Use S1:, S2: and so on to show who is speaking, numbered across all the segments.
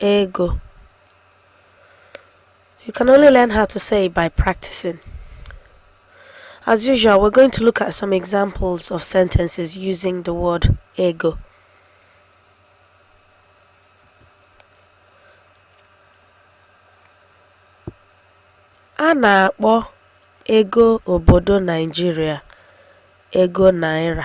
S1: ego you can only learn how to say it by practicing as usual we're going to look at some examples of sentences using the word ego a na-akpọ ego obodo Naịjirịa ego naira.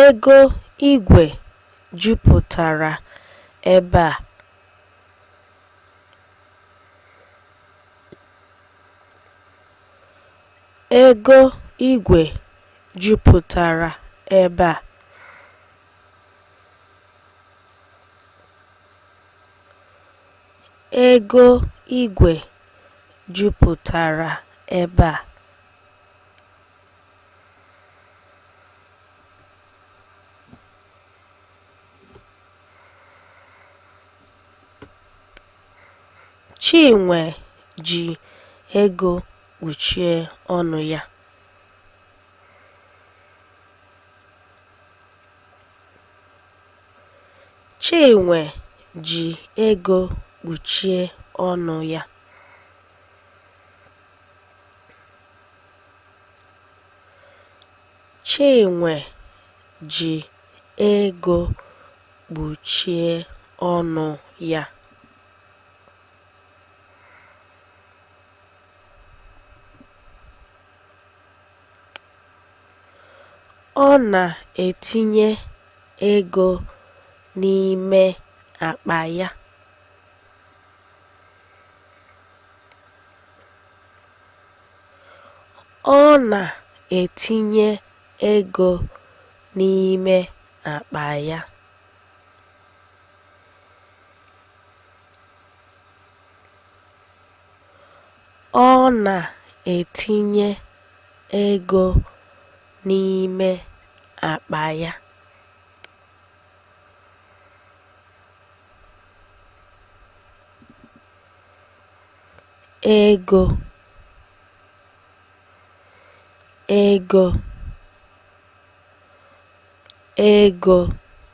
S1: Ego igwe jupụtara ebe a. Ego igwe jupụtara ebe a. Ego igwe jupụtara ebe a. Chinwe ji ego kpuchie ọnụ ya. Chinwe ji ego kpuchie ọnụ ya. Chinwe ji ego kpuchie ọnụ ya. Ọ na-etinye ego n'ime akpa ya. Ọ na-etinye ego n'ime akpa ya. ego ego ego